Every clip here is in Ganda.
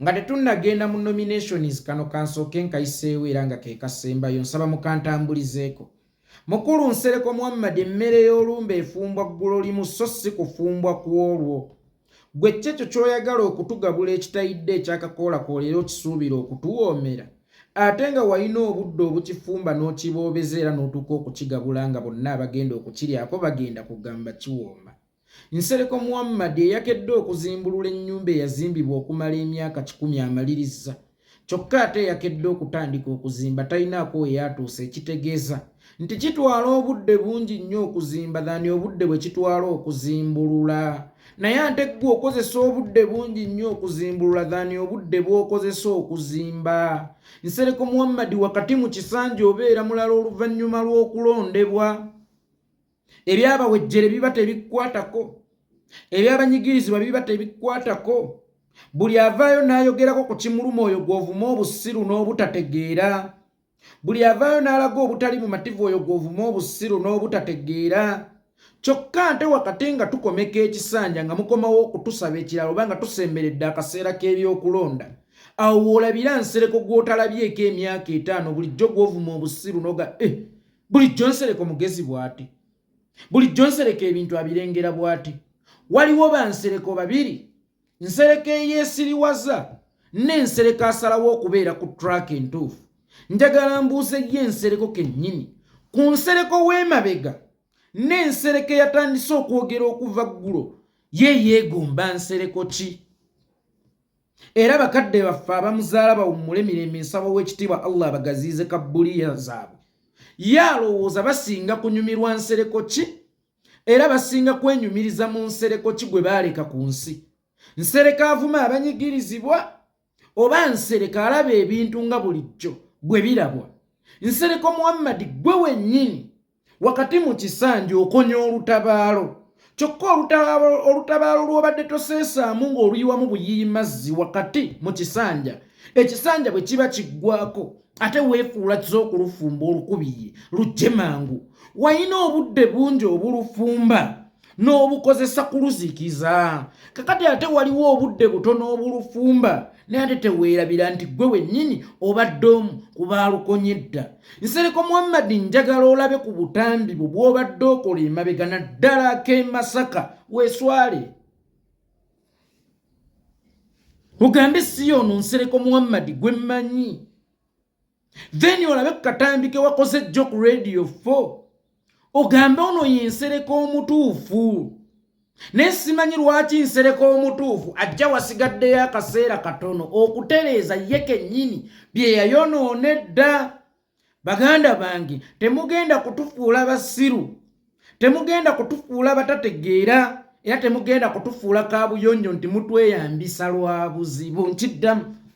Nga tetunnagenda mu nominations kano kansooke nkayiseewo era nga ke kasembayo nsaba mukantambulizeeko. Mukulu Nsereko Muhammad emmere y'olumbe efumbwa ggulo limu so si kufumbwa ku olwo. Ggwe kki ekyo ky'oyagala okutugabula ekitayidde ekyakakoolakoola era okisuubira okutuwoomera? Ate nga walina obudde obukifumba n'okiboobeza era n'otuuka okukigabula nga bonna abagenda okukiryako bagenda kugamba kiwooma. Nsereko Muhammad eyakedde okuzimbulula ennyumba eyazimbibwa okumala emyaka kikumi amalirizza kyokka ate eyakedde okutandika okuzimba talinaako we yatuuse ekitegeeza nti kitwala obudde bungi nnyo okuzimba dhani obudde bwe kitwala okuzimbulula naye ate ggwe okozesa obudde bungi nnyo okuzimbulula dhani obudde bw'okozesa okuzimba Nsereko Muhammad wakati mu kisanja obeera mulala oluvannyuma lw'okulondebwa ebyabawejjere biba tebikwatako ebyabanyigirizibwa biba tebikwatako buli avaayo n'ayogerako ku kimuluma oyo gw'ovuma obusiru n'obutategeera buli avaayo n'alaga obutali bumativu oyo gw'ovuma obusiru n'obutategeera kyokka nte wakati nga tukomeka ekisanja nga mukomawo okutusaba ekirala oba nga tusemberedde akaseera k'ebyokulonda awo woolabira nsereko gw'otalabyeko emyaka etaano bulijjo gw'ovuma obusiru noga eh, bulijjo nsereko mugezi bwati bulijjo nsereko ebintu abirengera bwati waliwo bansereko babiri nsereko eyesiriwaza n'ensereko asalawo okubeera ku track entuufu njagala mbuuze ye ensereko kennyini ku nsereko w'emabega n'ensereko eyatandise okwogera okuva ggulo ye yeegomba nsereko ki era bakadde baffe abamuzaala bawummule mirembe nsaba ow'ekitiibwa allah abagaziize kabbuliya zaabwe ye alowooza basinga kunyumirwa nsereko ki era basinga kwenyumiriza mu nsereko ki gwe baaleka ku nsi nsereka avuma abanyigirizibwa oba nsereka alaba ebintu nga bulijjo bwe birabwa nsereko muhammadi gwe wennyini wakati mu kisanja okonya olutabaalo kyokka olutabaalo lw'obadde toseesaamu ng'oluyiwamu buyiyi mazzi wakati mu kisanja ekisanja bwe kiba kiggwako ate weefuula kiza okulufumba olukubiye lujje mangu walina obudde bungi obulufumba n'obukozesa kuluzikiza kakati ate waliwo obudde butono obulufumba naye ate teweerabira nti ggwe wennyini obadde omu ku baalukonye dda nsereko muhammadi njagala olabe ku butambi bwo bw'obadde okola emabega naddala ak'emasaka weeswale ogambe si yoono nsereko muhammadi gwe mmanyi then olabe ku katambi ke wakoze jjo ku radio 4 ogambe ono yensereka omutuufu naye simanyi lwaki nsereka omutuufu ajja wasigaddeyo akaseera katono okutereeza ye kennyini bye yayonoona edda baganda bange temugenda kutufuula basiru temugenda kutufuula batategeera era temugenda kutufuula kabuyonjo nti mutweyambisa lwa buzibu nkiddamu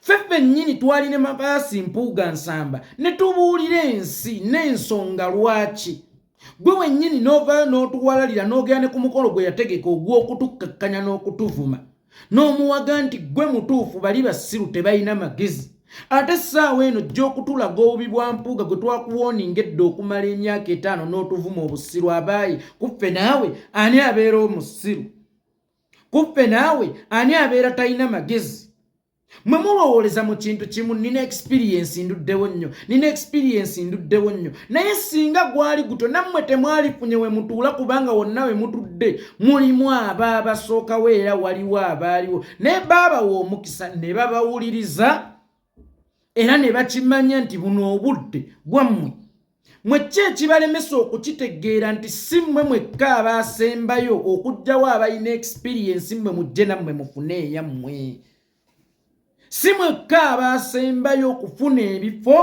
ffe ffennyini twali ne mabaasi mpuuga nsamba ne tubuulira ensi n'ensonga lwaki gwe wennyini n'ovaayo n'otuwalalira n'ogera ne ku mukolo gwe yategeka ogw'okutukkakkanya n'okutuvuma n'omuwaga nti gwe mutuufu bali basiru tebalina magezi ate essaawa eno jja okutulaga obubi bwa mpuuga gwe twakuwooninga edda okumala emyaka etaano n'otuvuma obusiru abaayi kuffe naawe ani abeera omusiru kuffe naawe ani abeera talina magezi mwe mulowooleza mu kintu kimu nina ekisipiriyensi nduddewo nnyo nina ekisipiriyensi nduddewo nnyo naye singa gwali gutyo nammwe temwalifunye we mutuula kubanga wonna we mutudde mulimu aba abasookawo era waliwo abaaliwo naye baabawa omukisa ne babawuliriza era ne bakimanya nti buno obudde bwammwe mwe ki ekibalemesa okukitegeera nti si mmwe mwekka abaasembayo okugjawo abalina ekisipiriyensi mmwe mujje nammwe mufune eyammwe si mwekka abaasembayo okufuna ebifo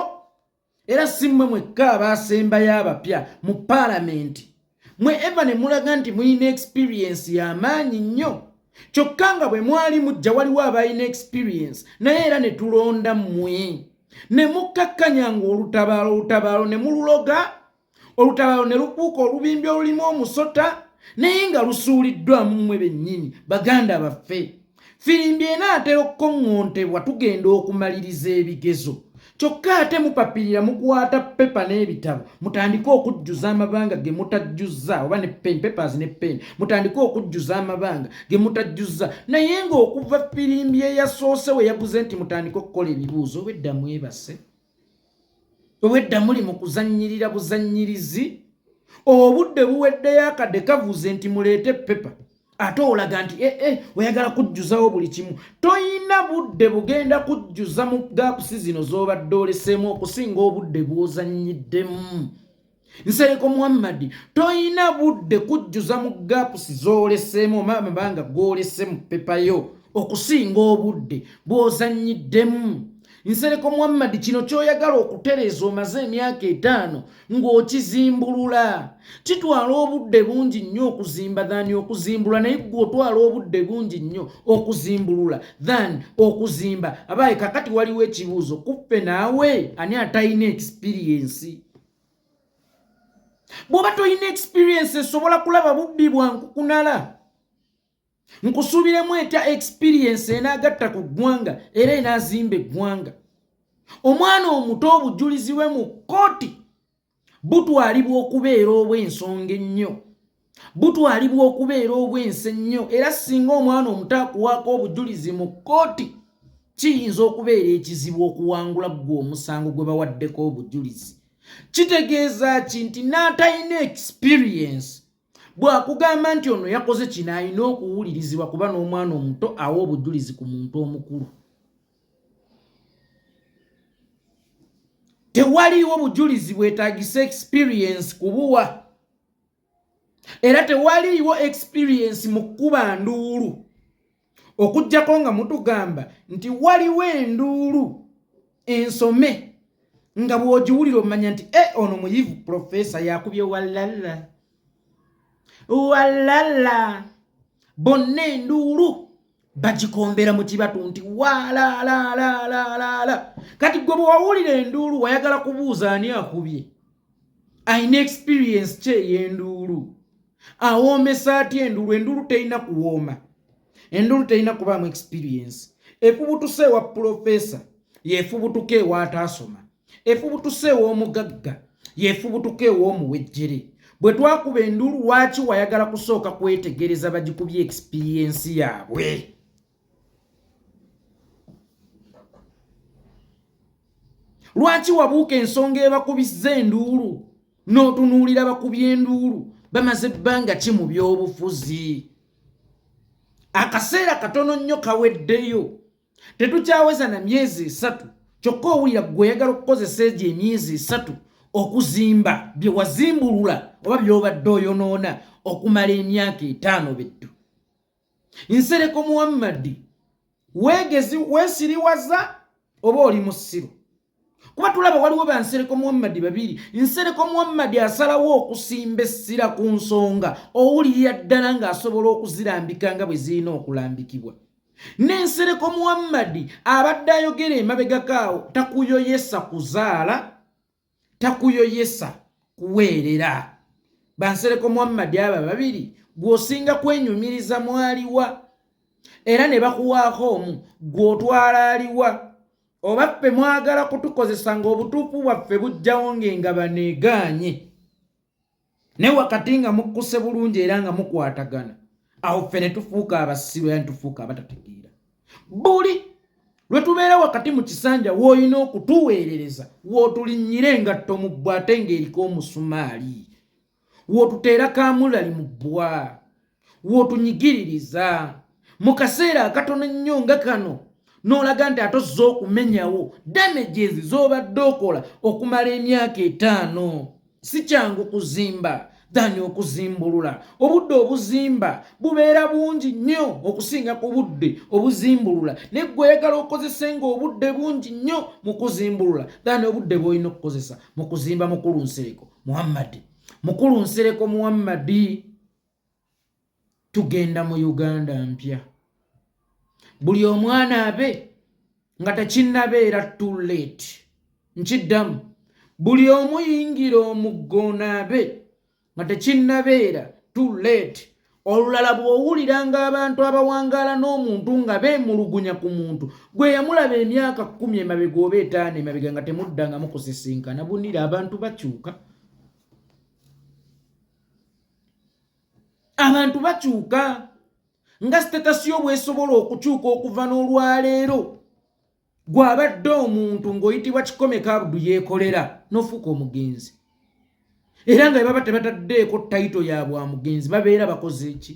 era si mmwe mwekka abaasembayo abapya mu paalamenti mwe eva ne mulaga nti mulina ekisipiriyensi y'amaanyi nnyo kyokka nga bwe mwali mujja waliwo abalina ekisipiriyensi naye era ne tulonda mmwe ne mukkakkanya ng'olutabaalo olutabaalo ne mululoga olutabalo ne lukuuka olubimbi olulimu omusota naye nga lusuuliddwamu mmwe bennyini baganda baffe firimbi enaatera okukoŋŋontebwa tugenda okumaliriza ebigezo kyokka ate mupapirira mukwata pepa n'ebitabo mutandike okujjuza amabanga ge mutajjuzza oba ne pen papers ne pen mutandike okujjuza amabanga ge mutajjuzza naye ng'okuva firimbi eyasoose we yaguze nti mutandike okukola ebibuuzo obwedda mwebase obwedda muli mu kuzannyirira buzannyirizi obudde buweddeyo akadde kavuze nti muleete pepa ate olaga nti ee eh, eh, oyagala kujjuzawo buli kimu toyina budde bugenda kujjuza mu gaapusi zino z'obadde oleseemu okusinga obudde bw'ozannyiddemu nsereko muhammadi toyina budde kujjuza mu gapusi zooleseemu oba amabanga goolese mu pepa yo okusinga obudde bw'ozannyiddemu nsereko muhammadi kino ky'oyagala okutereeza omaze emyaka etaano ng'okizimbulula kitwala obudde bungi nnyo okuzimba than okuzimbula naye gwe otwala obudde bungi nnyo okuzimbulula than okuzimba abaayi kakati waliwo ekibuuzo kuffe naawe ani atalina ekisipiriyensi bw'oba tolina experience esobola kulaba bubbi bwa nkukunala nkusuubiremu etya experience enaagatta ku ggwanga era enaazimba eggwanga omwana omuto obujulizi bwe mu kkooti butwalibwa okubeera obw'ensonga ennyo butwalibwa okubeera obwensi ennyo era singa omwana omuto akuwaako obujulizi mu kkooti kiyinza okubeera ekizibu okuwangula ggwe omusango gwe bawaddeko obujulizi kitegeeza ki nti n'atalina experience bw'akugamba nti ono yakoze kino alina okuwulirizibwa kuba n'omwana omuto awa obujulizi ku muntu omukulu tewaliiwo bujulizi bwetagisa experience kubuwa era tewaliiwo experiensi mu kkuba nduulu okuggyako nga mutugamba nti waliwo enduulu ensome nga bw'ogiwulira omanya nti e ono muyivu profesa yakubye walala walala bonna enduulu bagikombera mu kibatu nti waalaalaalaalala kati gwe bwewawulira enduulu wayagala kubuuza ani akubye ayina experience ki ey'enduulu awoomesa atya enduulu enduulu terina kuwooma enduulu terina kubaamu experience efubutusa ewa pulofesa yefubutuka ewaataasoma efubutuse ew'omugagga yefubutuka ew'omuwejjere bwe twakuba enduulu lwaki wayagala kusooka kwetegereza bagikubye ekisipiriyensi yaabwe lwaki wabuuka ensonga ebakubizza enduulu n'otunuulira bakubye enduulu bamaze ebbanga ki mu by'obufuzi akaseera katono nnyo kaweddeyo tetukyaweza na myezi esatu kyokka owulira gweoyagala okukozesa egyo emyezi esatu okuzimba bye wazimbulula oba byobadde oyonoona okumala emyaka etaano bettu nsereko muwammadi weegezi weesiriwaza oba oli musiru kuba tulaba waliwo ba nsereko muhammadi babiri nsereko muhammadi asalawo okusimba essira ku nsonga owulirira ddala ng'asobola okuzirambika nga bwe zirina okulambikibwa n'ensereko muhammadi abadde ayogera emabegakaawo takuyoyesa kuzaala takuyoyesa kuweerera bansereko muhammadi aba babiri gw'osinga kwenyumiriza mwaliwa era ne bakuwaako omu gw'otwala aliwa oba ffe mwagala kutukozesa ng'obutuufu bwaffe bujjawo ng'engabano egaanye ne wakati nga mukkuse bulungi era nga mukwatagana awo ffe ne tufuuka abasiru era ne tufuuka abatategeera buli lwe tubeera wakati mu kisanja w'olina okutuweerereza w'otulinnyira engatto mu bbwa ate ng'eriko omusumaali w'otuteera kaamulali mu bbwa w'otunyigiririza mu kaseera akatono ennyo nga kano n'olaga nti ate ozze okumenyawo damages z'obadde okola okumala emyaka etaano si kyangu kuzimba dani okuzimbulula obudde obuzimba bubeera bungi nnyo okusinga ku budde obuzimbulula naye gweoyagala okozese nga obudde bungi nnyo mu kuzimbulula dani obudde bwolina okukozesa mu kuzimba mukulu nsereko muhammadi mukulu nsereko muhammadi tugenda mu uganda mpya buli omwana abe nga tekinabeera too late nkiddamu buli omuyingira omuggonaabe nga tekinabeera too late olulala bw'owulira ng'abantu abawangaala n'omuntu nga beemulugunya ku muntu gwe yamulaba emyaka kkumi emabega oba etaano emabega nga temuddangamu kusisinkana bunira abantu bakyuka abantu bakyuka nga sitatasi yo bwesobola okukyuka okuva n'olwaleero gw'abadde omuntu ng'oyitibwa kikomeka abudu yeekolera n'ofuuka omugenzi era nga bebaba tebataddeeko tayito ya bwa mugenzi babeera bakoze ki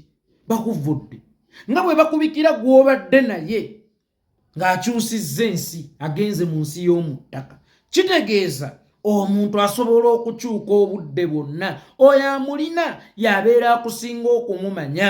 bakuvudde nga bwe bakubikira gw'obadde naye ng'akyusizza ensi agenze mu nsi y'omu ttaka kitegeeza omuntu asobola okukyuka obudde bwonna oyo amulina y'abeera akusinga okumumanya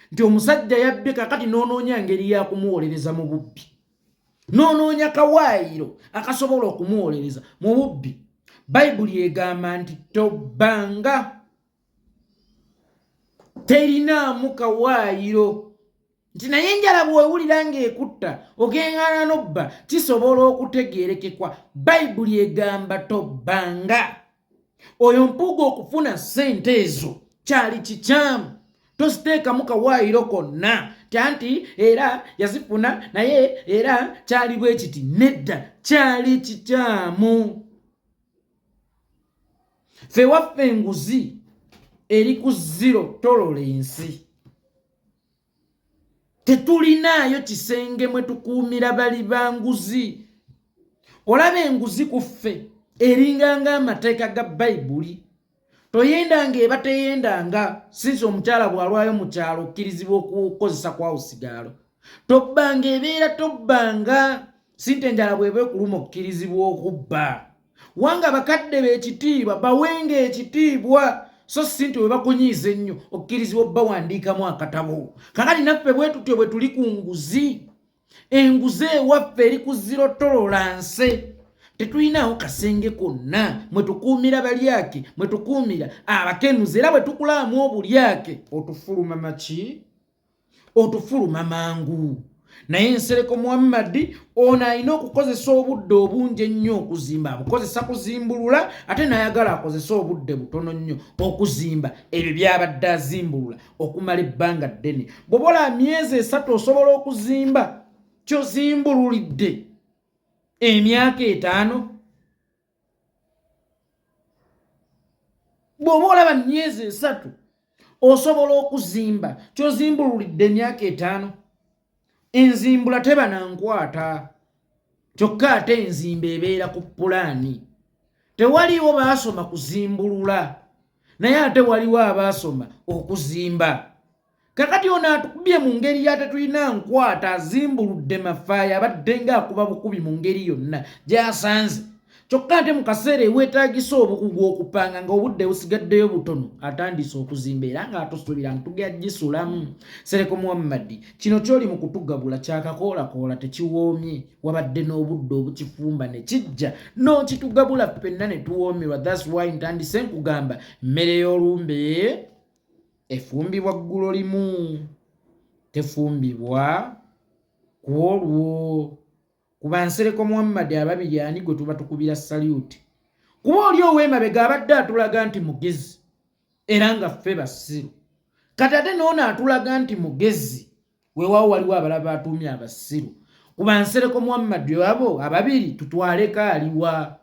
nti omusajja yabbe kakati noonoonya ngeri ya kumuwolereza mu bubbi noonoonya kawaayiro akasobola okumuwolereza mu bubbi bayibuli egamba nti tobbanga terinaamu kawaayiro nti naye enjala bwewulira ng'ekutta ogeŋŋana n'obba kisobola okutegeerekekwa bayibuli egamba tobbanga oyo mpuuga okufuna sente ezo kyali kikyamu toziteekamu kawaayiro konna tanti era yazifuna naye era kyali bwe kiti nedda kyali kikyamu fe waffe enguzi eri ku ziro tolola ensi tetulinaayo kisenge mwe tukuumira bali ba nguzi olaba enguzi ku ffe eringanga amateeka ga bayibuli toyendanga eba teyendanga sinsi omukyala bw'alwayo mu kyalo okkirizibwa okukozesa kwawo sigaalo tobbanga ebeera tobbanga sinte enjala bw'eba ekuluma okkirizibwa okubba wanga bakadde be ekitiibwa bawenga ekitiibwa so si nti webakunyiiza ennyo okkirizibwa obawandiikamu akatabo kakati naffe bwetutyo bwe tuli ku nguzi enguzi ewaffe eri ku zirotolola nse tetulinawo kasenge konna mwe tukuumira balyake mwe tukuumira abakenuzi era bwe tukulaamu obulyake otufuluma maki otufuluma mangu naye ensereko muhammadi ono alina okukozesa obudde obungi ennyo okuzimba abukozesa kuzimbulula ate nayagala akozese obudde butono nnyo okuzimba ebyo byabadde azimbulula okumala ebbanga ddene bwobola myezi esatu osobola okuzimba kyozimbululidde emyaka etaano bw'oba olaba myezi esatu osobola okuzimba kyozimbululidde emyaka etaano enzimbula teba nankwata kyokka ate enzimba ebeera ku pulaani tewaliwo baasoma kuzimbulula naye ate waliwo abaasoma okuzimba kakati ono atukubye mu ngeri yatetulina nkwata azimbuludde mafaayo abadde nga akuba bukubi mu ngeri yonna gyasanze kyokka ate mu kaseera eweetaagisa obukugu okupanga nga obudde busigaddeyo butono atandise okuzimba era ng'atusuubira ntugya gisulamu sereko muhammadi kino kyoli mu kutugabula kyakakoolakoola tekiwoomye wabadde n'obudde obukifumba ne kijja n'okitugabula ffenna ne tuwoomerwa thats why ntandise nkugamba mmere y'olumbe efumbibwa ggulo limu tefumbibwa ku olwo ku bansereko muhammadi ababiri ani gwe tuba tukubira saluti kuba oli ow'emabega abadde atulaga nti mugezi era nga ffe basiru kati ate noono atulaga nti mugezi weewaawo waliwo abalaba atuumye abasiru ku bansereko muhammadi abo ababiri tutwaleko aliwa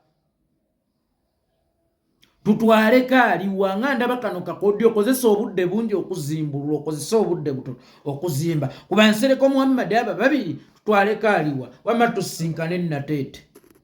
tutwale kaaliwa nga ndaba kano kakodyo okozesa obudde bungi okuzimbulula okozesa obudde buto okuzimba kuba nsereko muhammadi aba babiri tutwale kaaliwa wama tusinkane nateete